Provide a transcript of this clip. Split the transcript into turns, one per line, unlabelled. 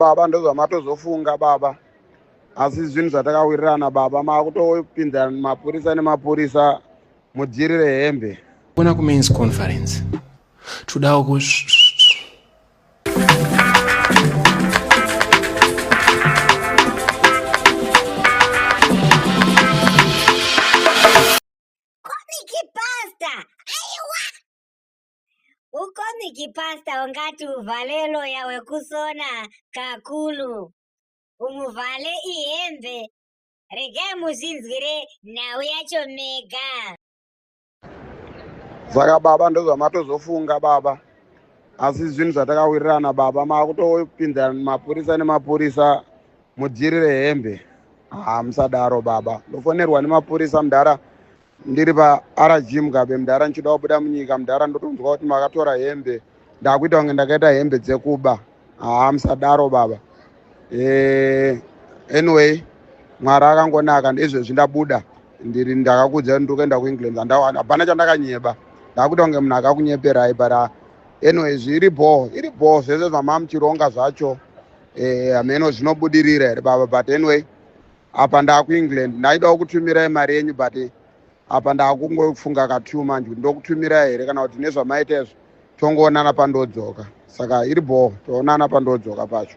baba ndozvamatozofunga baba asi zvinhu zvatakawirirana baba maakutopinza mapurisa nemapurisa mujiri rehembe ona kumains
conference todawo ku
Ukomiki pasta ungati uvhale loya wekusona kakulu. Umuvhale ihembe. Regai muzvinzwire nhau yacho mega.
Saka baba ndozvamatozofunga baba. Asi zvinhu zvatakawirirana baba makutopinza mapurisa nemapurisa mudyirire hembe. Ah musadaro baba. Ndofonerwa nemapurisa mudhara ndiri parg mugabe mudhara ndichida kubuda munyika mudhara ndotonzwa kuti makatora hembe ndakuita kunge ndakaita hembe dzekuba haa musadaro baba eh, anyway mwari akangonaka ndezvezvi ndabuda ndiri ndakakudza ndiri kuenda kuengland andawana hapana chandakanyeba ndakuita kunge munhu akakunyeperai but ah, anyway zviri bho iri bho zvese zvamamuchironga zvacho eh, hameno zvinobudirira here baba but anyway apa ndakuengland ndaidawo kutumirai mari yenyu but apa ndakungofunga katwo manje kuti ndokutumirai here kana kuti nezvamaita izvo tongoonana pandodzoka saka iri bhoo toonana pandodzoka pacho